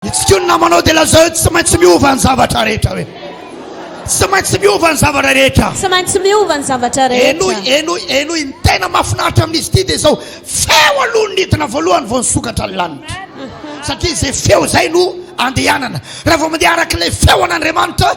Ny tsikio ny namanao dia lazao hoe tsy maintsy miova ny zavatra rehetra hoe. Tsy maintsy miova ny zavatra rehetra. Tsy maintsy miova ny zavatra rehetra. Henoy, henoy, henoy. Ny tena mahafinaritra amin'izy ity dia izao, feo aloha no nidina voalohany vao nisokatra ny lanitra. Satria izay feo izay no andehanana. Raha vao mandeha araka ilay feon'Andriamanitra,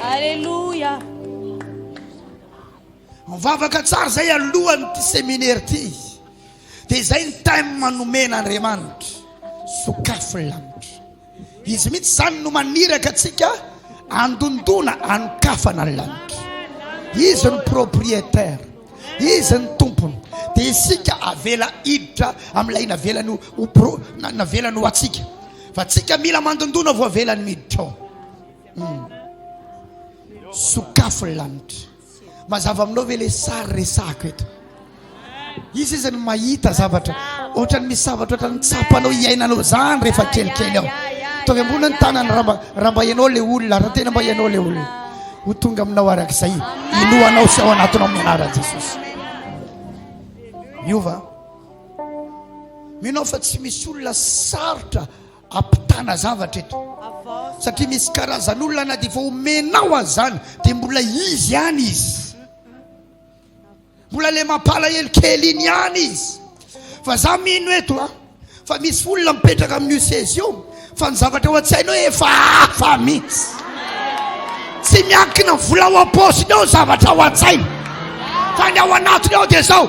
Aleloia. Mivavaka tsara izay alohan'ity seminaire ity dia izay ny thème nomena Andriamanitra sokafy ny lanitra izy mihitsy izany no maniraka antsika andondona anokafana ny lanitra izy ny propriétaire izy ny tompony dia isika avela hiditra amin'ilay navelany ho pro navelany ho antsika fa tsika mila mandondona vao avelany miditra ao Inn. Sokafy ny lanitra. Mazava aminao ve ilay sary resahako eto? Iza iza no mahita zavatra ohatrany misy zavatra ohatrany tsapanao hiainanao izany rehefa kelikely aho. Ataovy ambony ny tanany raha raha mba ianao ilay olona, raha tena mba ianao ilay olona. Ho tonga aminao araka izay inoanao sy ao anatinao amin'ny anaran'i Jesosy. Miova. Mino aho fa tsy misy olona sarotra Ampitana zavatra eto satria misy karazan'olona na dia efa omenao azy izany dia mbola izy ihany izy, mbola ilay mampalahelo kely iny ihany izy. Fa za mino eto a, fa misy olona mipetraka amin'io seza io fa ny zavatra ao an-tsainao efa hafa mihitsy. Tsy miankina vola ao am-paosiny ao zavatra ao an-tsainy fa ny ao anatiny ao dia zao,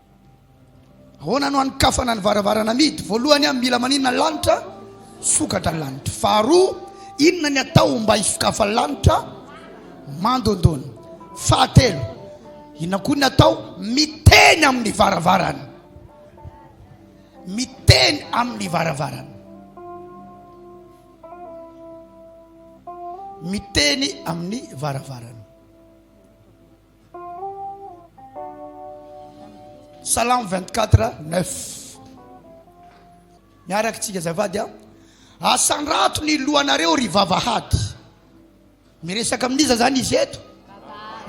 Ahoana no hanokafana ny varavarana amidy? Voalohany, mila maninona ny lanitra? Misokatra ny lanitra. Faharoa, inona ny atao mba hisokafan'ny lanitra mandondona? Fahatelo, inona koa ny atao? Miteny amin'ny varavarana. Miteny amin'ny varavarana. Miteny amin'ny varavarana. Salamo 24 9 miaraka tsika azafady a asandrato ny lohanareo ry vavahady miresaka amin'iza zany izy eto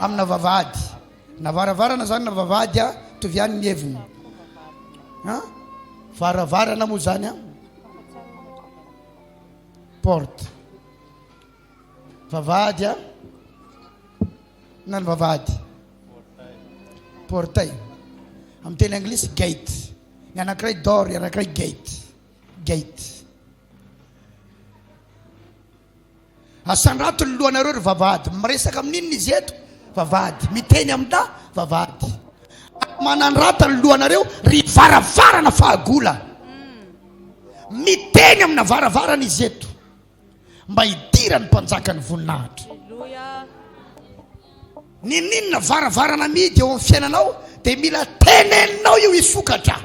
amina vavahady na varavarana zany na vavahady a tovy any ny heviny a varavarana moa zany a porte Vavahady a. Inona ny vavahady? Portail. Amin'ny teny anglisy gate. Ny anankiray door, ny anankiray gate. Gate. Asandrato ny lohanareo ry vavahady. Miresaka amin'inona izy eto? Vavahady. Miteny aminà vavahady. Manandrata ny lohanareo ry varavarana fahagola. Miteny amina varavarana izy eto. mba hidiran'ny mpanjaka ny voninahitra. Nininona varavarana mihidy eo amin'ny fiainanao dia mila teneninao io hisokatra.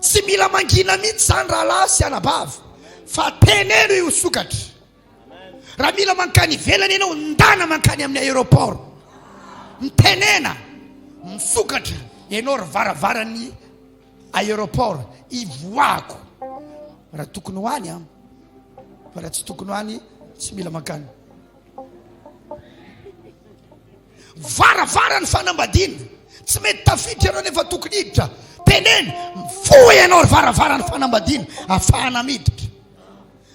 Tsy mila mangina mihitsy zany rahalahy sy anabavy fa teneno io hisokatra. Raha mila mankany ivelany ianao, ndana mankany amin'ny aéroport. Mitenena, misokatra ianao ry varavaran'ny Aéroport hivoahako raha tokony ho any an, fa raha tsy tokony ho any tsy mila mankany. Varavara ny fanambadiana, tsy mety tafiditra ianao nefa tokony hiditra. Teneno, mifoha ianao ry varavara ny fanambadiana afahana miditra.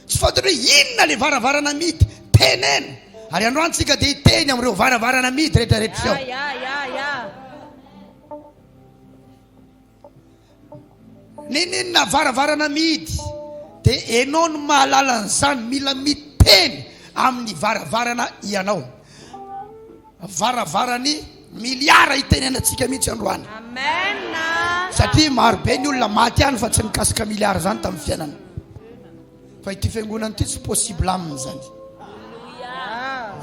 Tsy fantatra hoe inona le varavarana midy, teneno. Ary androany tsika dia hiteny amin'ireo varavarana midy rehetra rehetra ireo. Nenenina varavarana mihidy de enao no mahalala an'izany mila miteny amin'ny varavarana ianao varavarany miliara hitenenantsika mihitsy androany satria marobe ny olona maty any fa tsy nikasika miliara zany tamin'ny fiainana Fa ity fiangonana ity tsy possible aminy zany.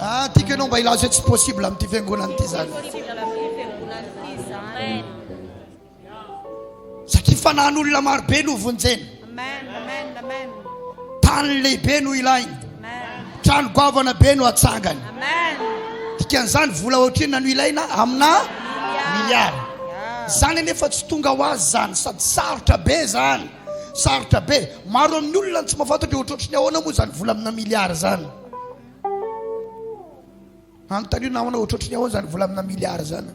Ah, tiako ianao mba hilaza hoe tsy possible amin'ity fiangonana ity zany. Satria fanahin'olona marobe no vonjena. Tany lehibe no ilainy. Trano goavana be no atsangany. Dikan'izany vola ohatrinona no ilaina amina milliard. Zany anefa tsy tonga ho azy zany sady sarotra be zany. Sarotra be. Maro amin'ny olona no tsy mahafantatra hoe ohatrohatry ny ahoana moa izany vola amina miliara izany. Anontaniana nahoana ohatrohatry ny ahoana izany vola amina miliara izany.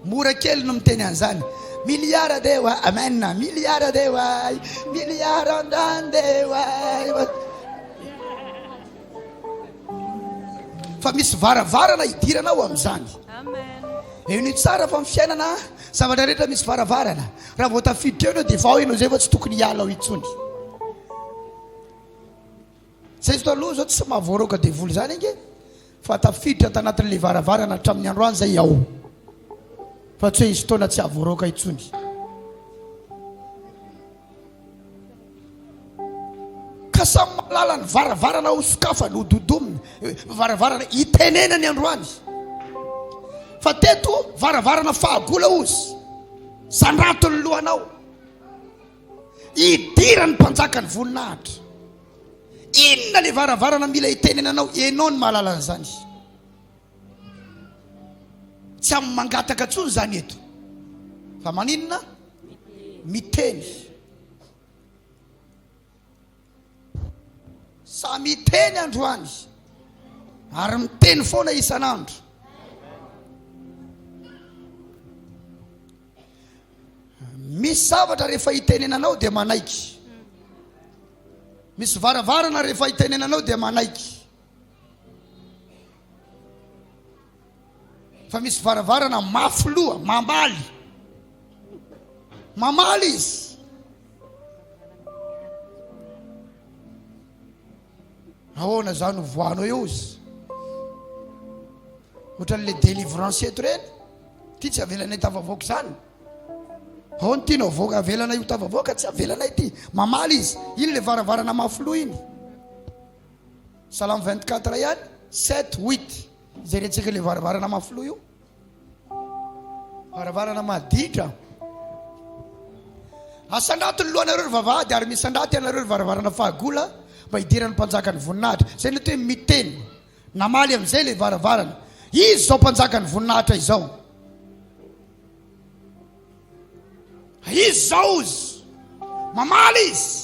Mora kely no miteny an'izany. Miliara dia wa, amen. Miliara dia wa, miliara an-drano dia wa. fa misy varavarana hidirana ao amin'izany enio tsara fa mifiainana zavatra rehetra misy varavarana raha vao tafiditra eo no dia vao enao zay fa tsy tokony hiala ao intsony zay zto aloha zao tsy mahavoaraoka devoly zany ange fa tafiditra tanatin'la varavarana hatramin'ny andro any zay ao fa tsy hoe hisy fotoana tsy havoaraoka intsony Ka samy mahalala ny varavarana ho sokafany, ho dodominy, varavarana hitenenany androany. Fa teto varavarana fahagola ozy, zandrato ny lohanao. Idiran'ny mpanjaka ny voninahitra. Inona le varavarana mila hitenenanao, enao ny mahalala an'izany. Tsy amin'ny mangataka tsony zany eto, fa maninona? Miteny. Samy miteny androany ary miteny foana isan'andro. Misy zavatra rehefa itenenanao dia manaiky. Misy varavarana rehefa itenenanao dia manaiky. fa misy varavarana mafy loha mamaly mamaly izy ahoana zany hovoanao eo izy ohatran'le délivrance eto reny ty tsy avelanay tavavoaka izany ao ny tianao voaka avelanay ho tavavoaka tsy avelanay ty mamaly izy iny le varavarana mafy loha iny Salamo vingt quatre ihany sept huit izay rehatsika ilay varavarana mafy loha io varavarana maditra asandrato ny lohanareo ry vavahady ary misandrato ianareo ry varavarana fahagola mba hidiran'ny mpanjaka ny voninahitra izay ny toe miteny namaly amin'izay ilay varavarana izy izao mpanjaka ny voninahitra izao izy izao izy mamaly izy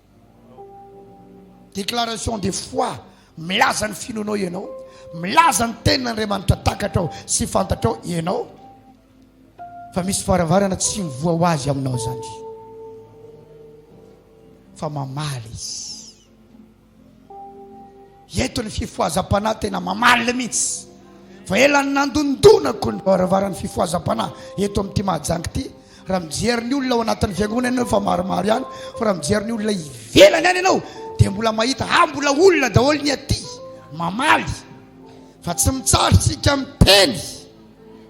Déclaration de foi, milaza ny finoanao ianao, milaza ny tenin'Andriamanitra takatrao sy fantatrao ianao fa misy varavarana tsy mivoha ho azy aminao izany fa mamaly izy. Eto ny fifohazam-panahy tena mamaly mihitsy. Fa ela ny nandondonako ny varavaran'ny fifohazam-panahy eto amin'ity Mahajanga ity. Raha mijery ny olona ao anatin'ny fiangonana ianao efa maromaro ihany, fa raha mijery ny olona ivelany any ianao dia mbola mahita, ah, mbola olona daholo ny aty mamaly. Fa tsy mitsara isika miteny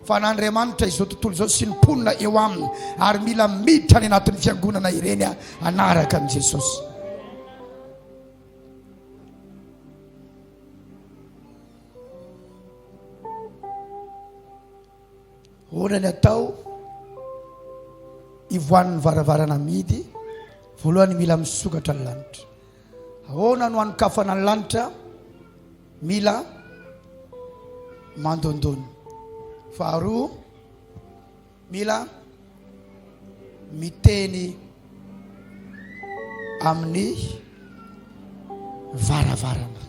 fa an'Andriamanitra izao tontolo izao sy ny mponina eo aminy, ary mila miditra any anatin'ny fiangonana ireny hanaraka an'i Jesosy. Ahoana ny atao ivoan'ny varavarana midy voalohany mila misokatra ny lanitra ahoana no anokafana ny lanitra mila mandondony faharoa Mila miteny amin'ny varavarana.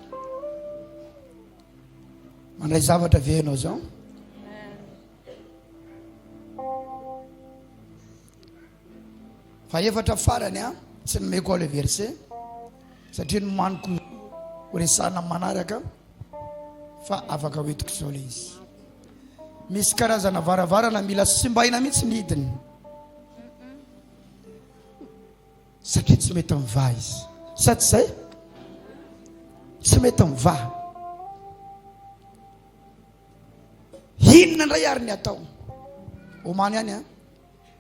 Mandray zavatra ve ianao zao? Fa efatra farany a, tsy nomeko ao le verset satria nomaniko resahana manaraka. fa afaka hoentiko izao ilay izy misy karazana varavarana mila simbaina mihitsy ny hidiny satria tsy mety mivaha izy sa tsy izay tsy mety mivaha inona indray ary ny atao omany any a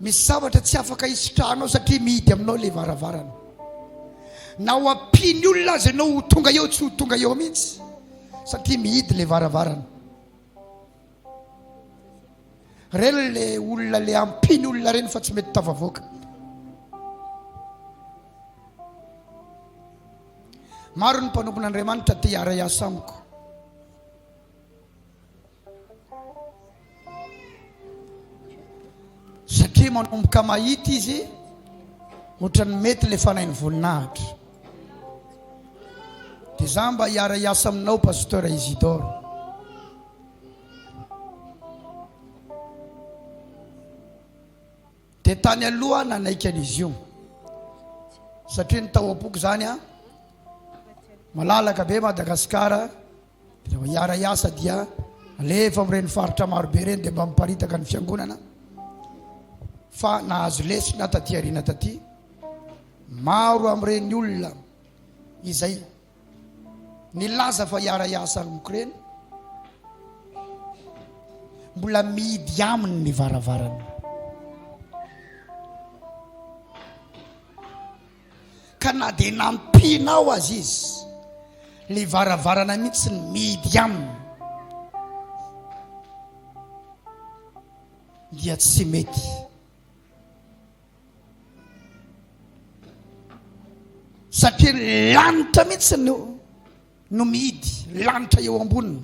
Misy zavatra tsy afaka hisitrahanao satria mihidy aminao ilay varavarana. Na ho ampian'ny olona aza ianao ho tonga eo, tsy ho tonga eo mihitsy satria mihidy ilay varavarana. Ireny ilay olona ilay ampian'ny olona ireny fa tsy mety tafavoaka. Maro ny mpanompon'Andriamanitra te hiara-hiasa amiko. Satria manomboka mahita izy ohatran'ny mety le fanainy voninahitra. Dia za mba hiara hiasa aminao pasteur Isidore. Dia tany aloha nanaiky an'izy io satria ny tao am-poko zany a malalaka be Madagasikara Raha hiara-hiasa dia alefa amin'ireny faritra marobe ireny dia mba miparitaka ny fiangonana fa nahazo lesona taty aoriana taty maro amin'ireny olona izay nilaza fa hiara-hiasa amiko ireny mbola mihidy aminy ny varavarana ka na dia nampianao aza izy, ilay varavarana mihitsy ny mihidy aminy dia tsy mety. Satria ny lanitra mihitsy no no mihidy lanitra eo amboniny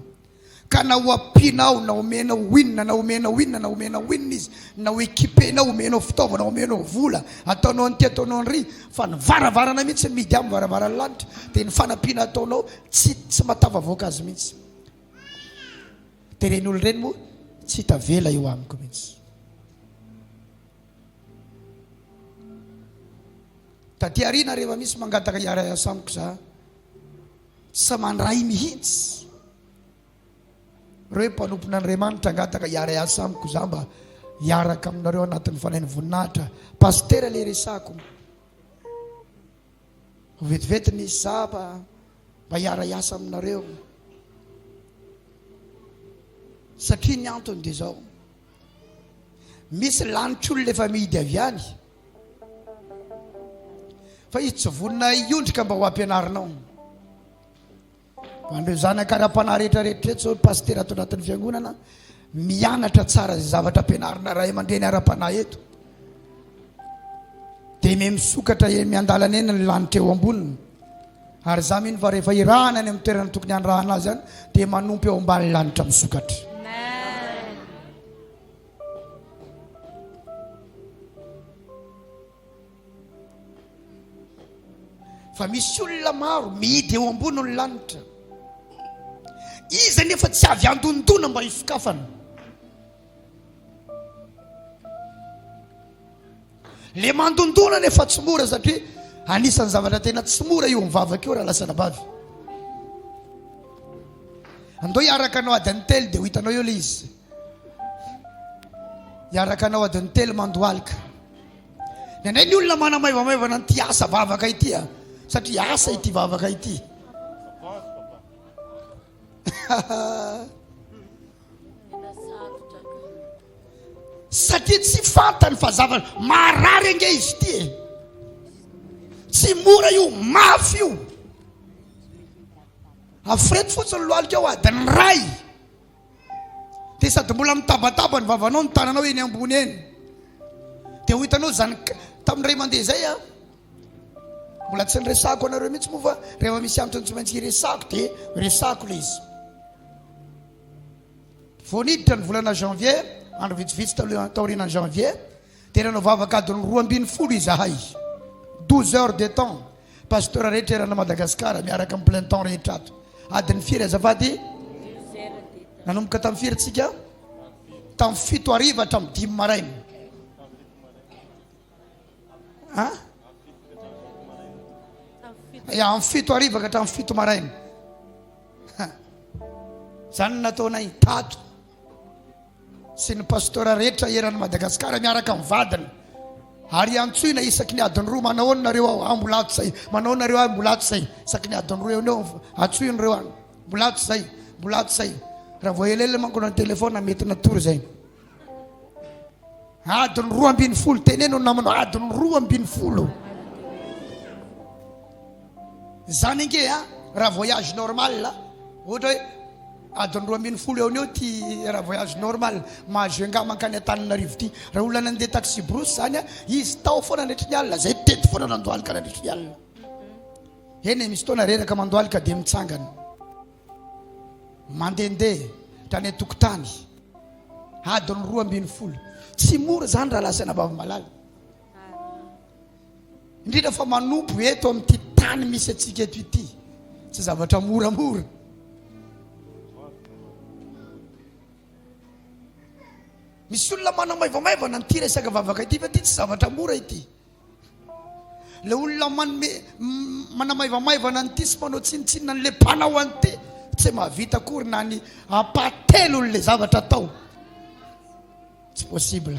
ka na ho ampianao na omenao inona na omenao inona na omenao inona izy na ho ekipenao omenao fitaovana omenao vola ataonao an'ity ataonao an'ry fa ny varavarana mihitsy ny mihidy amin'ny varavaran'ny lanitra dia ny fanampiana ataonao tsy tsy matafavoaka azy mihitsy dia ireny olo ireny moa tsy hita vela eo amiko mihitsy taty ariana rehefa misy mangataka hiara-hiasa amiko za Tsy mandray mihitsy reo mpanompon'Andriamanitra angataka hiara-hiasa amiko za mba hiaraka aminareo anatin'ny fanain'ny voninahitra. Pasitera le resako. Vetivety nisy zaba mba hiara-hiasa aminareo. Satria ny antony dia zao. Misy lanitr'olona efa mihidy avy any. Fa izy tsy vonona hiondry ka mba ho ampianarinao. Ho an'ireo zanaka ara-panahy rehetra rehetra eto izao, pasitera ato anatin'ny fiangonana, mianatra tsara izay zavatra ampianarina ray aman-dreny ara-panahy eto. Dia me misokatra eny miandalana eny ny lanitra eo amboniny. Ary za mino fa rehefa irahana any amin'ny toerana tokony hanirahana azy any dia manompo eo ambany lanitra misokatra. fa misy olona maro mihidy eo ambony ny lanitra iza nefa tsy avy andondona mba hifokafana le mandondona nefa tsy mora satria anisan'ny zavatra tena tsy mora io mivavaka io raha lasanabavy andeo hiaraka anao adiny telo dia ho hitanao eo le izy Hiaraka anao adin'ny telo mandohalika. Ny anay ny olona manamaivamaivana an'ity asa vavaka ity a, satria asa ity vavaka ity. satria tsy fantany fa zava marary ange izy ity e tsy mora io mafy io afrety fotsiny lohalika ao adiny ray Dia sady mbola mitabataba ny vavanao, ny tananao eny ambony eny. Dia ho hitanao izany tamin'ny ray mandeha izay aho. Mbola tsy niresako anareo mihitsy moa fa rehefa misy antony tsy maintsy hiresako dia resako ilay izy. Vao niditra ny volana janvier, andro vitsivitsy taorianan'ny janvier, Dia nanao vavaka adiny roa ambin'ny folo izahay, douze heures de temps, pasteur rehetra eran'i Madagascar miaraka amin'ny plein temps rehetra ato. Adiny firy azafady? Nanomboka tamin'ny firy tsika? Tamin'ny fito hariva hatramin'ny dimy maraina. Ha? Ya, amin'ny fito hariva ka hatramin'ny fito maraina. Zany nataonay tato. sy ny pastora rehetra eran'i Madagasikara miaraka amin'ny vadiny ary antsoina isaky ny adiny roa manahoana nareo ao ah mbola ato zay manahoana nareo ah mbola ato zay isaky ny adiny roa eo neo antsoina ireo any mbola ato zay mbola ato zay raha vao elele manko na ny telefona mety natory zay Adiny roa ambin'ny folo teneno ny namanao adiny roa ambin'ny folo zany ange a raha voyage normal ohatra hoe adiny roa ambin'ny folo eo ny eo ty raha voyage normal mahazo enga mankany an-tananarivo ty raha olona nandeha taxi brousse zany a izy tao foana nandritry ny alina zay tety foana nandohalika nandritry ny alina eny e misy fotoana reraka mandohalika dia mitsangana Mandehandeha tany an-tokotany adiny roa ambin'ny folo. Tsy mora izany raha lazaina babamalala. Indrindra fa manompo eto amin'ity tany misy antsika eto ity. Tsy zavatra moramora. Misy olona manamaivamaivana an'ity resaka vavaka ity fa ity tsy zavatra mora ity. Ilay olona manome manamaivamaivana ny ity sy manao tsinontsinona an'ilay mpanao an'ity tsy mahavita akory na ny ampahatelon'ilay zavatra atao. Tsy possible.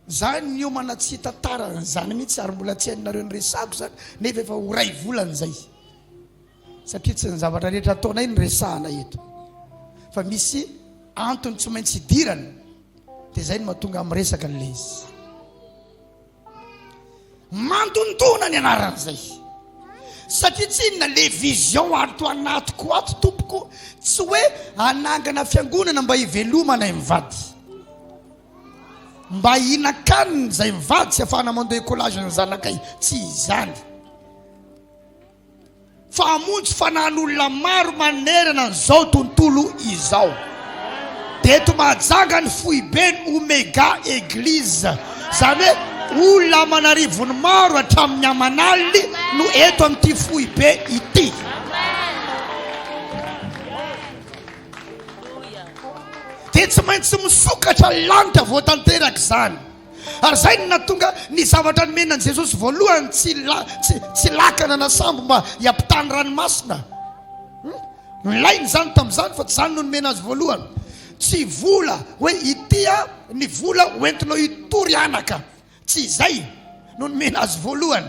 Za niomana tsy hita tara an'izany mihitsy ary mbola tsy hainareo ny resako izany nefa efa ho iray volana izay. satria tsy ny zavatra rehetra ataonay no resahana eto fa misy antony tsy maintsy hidirana dia izay no mahatonga amin'ny resaka an'ilay izy mandondona ny anaran'izay satria tsy inona le vision ato anatiko ato tompoko tsy hoe anangana fiangonana mba hivelomanay mivady mba hihinan-kanina izay mivady sy afahana mandoa écolage ny zanakay tsy izany Fa hamonjy fanan'olona maro manerana an'izao tontolo izao. Dia eto Mahajanga ny foibeny ho Mega Eglise. Izany hoe olona aman'arivony maro hatramin'ny aman'aliny no eto amin'ity foibe ity. Dia tsy maintsy misokatra ny lanitra vao tanteraka izany. Ary izay no nahatonga ny zavatra nomena an'i Jesosy voalohany tsy la- tsy- tsy lakana na sambo mba hiampitany ranomasina. Hmm? Nilainy izany tamin'izany fa tsy izany no nomena azy voalohany. Tsy vola hoe ity a ny vola hoentinao hitory anaka. Tsy izay no nomena azy voalohany.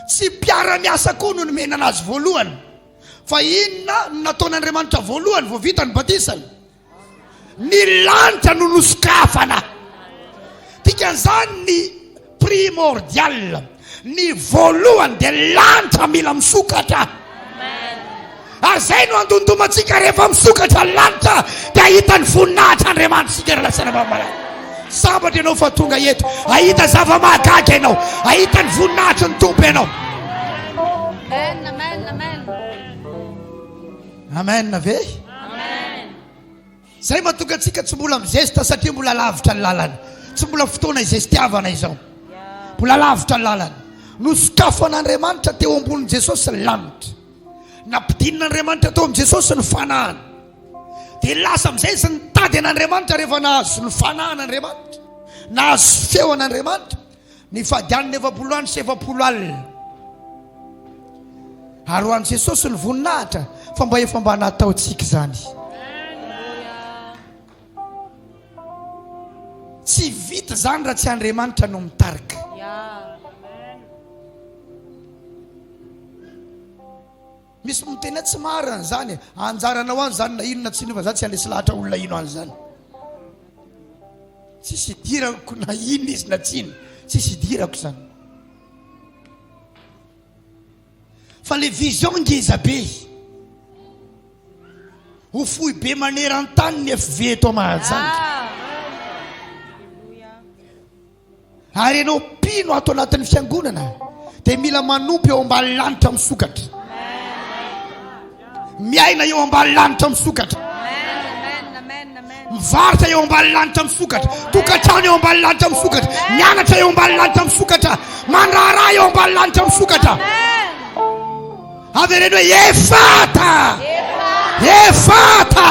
Tsy mpiara-miasa koa no nomena anazy voalohany. Fa inona no nataon'Andriamanitra voalohany vao vita ny batisany? Ny lanitra no nosokafana. Dikan'izany ny primordial, ny voalohany dia lanitra mila misokatra. Ary izay no andondomantsika rehefa misokatra ny lanitra dia ahita ny voninahitra Andriamanitra isika ry lasan'ny Amam-balahy. Sambatra ianao fa tonga eto. Ahita zava-mahagaga ianao. Ahita ny voninahitry ny Tompo ianao. Amen, amen, amen. Amen ve? Amen. Zay matonga antsika tsy mbola mizesta satria mbola lavitra ny lalana. Tsy mbola fotoana izestiavana izao. Mbola lavitra ny lalana. Nosokafan'Andriamanitra teo ambonin'i Jesosy ny lanitra. Nampidinin'Andriamanitra teo amin'i Jesosy ny fanahana. Dia lasa amin'izay izy nitady an'Andriamanitra rehefa nahazo ny fanahan'Andriamanitra. Nahazo feo an'Andriamanitra. Nifady an'i efapolo andro sy efapolo alina ary ho an'i Jesosy ny voninahitra fa mba efa mba nataontsika izany. Tsy vita izany raha tsy Andriamanitra no mitarika. Misy miteny hoe tsy marina izany e. Anjaranao any izany na inona tsy inona fa za tsy hanisy lahatra olona ino any izany. Tsisy idirako na inona izy na tsy inona, tsisy idirako izany. Fa le vision ngeza be. Ho fohy be maneran-tany ny FV eto Mahajanga. Ah. Ary ianao mpino ato anatin'ny fiangonana dia mila manompo eo ambany lanitra misokatra. Miaina eo ambany lanitra misokatra. Mivarotra eo ambany lanitra misokatra. Tokantrano eo ambany lanitra misokatra. Mianatra eo ambany lanitra misokatra. Mandraharaha eo ambany lanitra misokatra. Avereno hoe efata. Efata.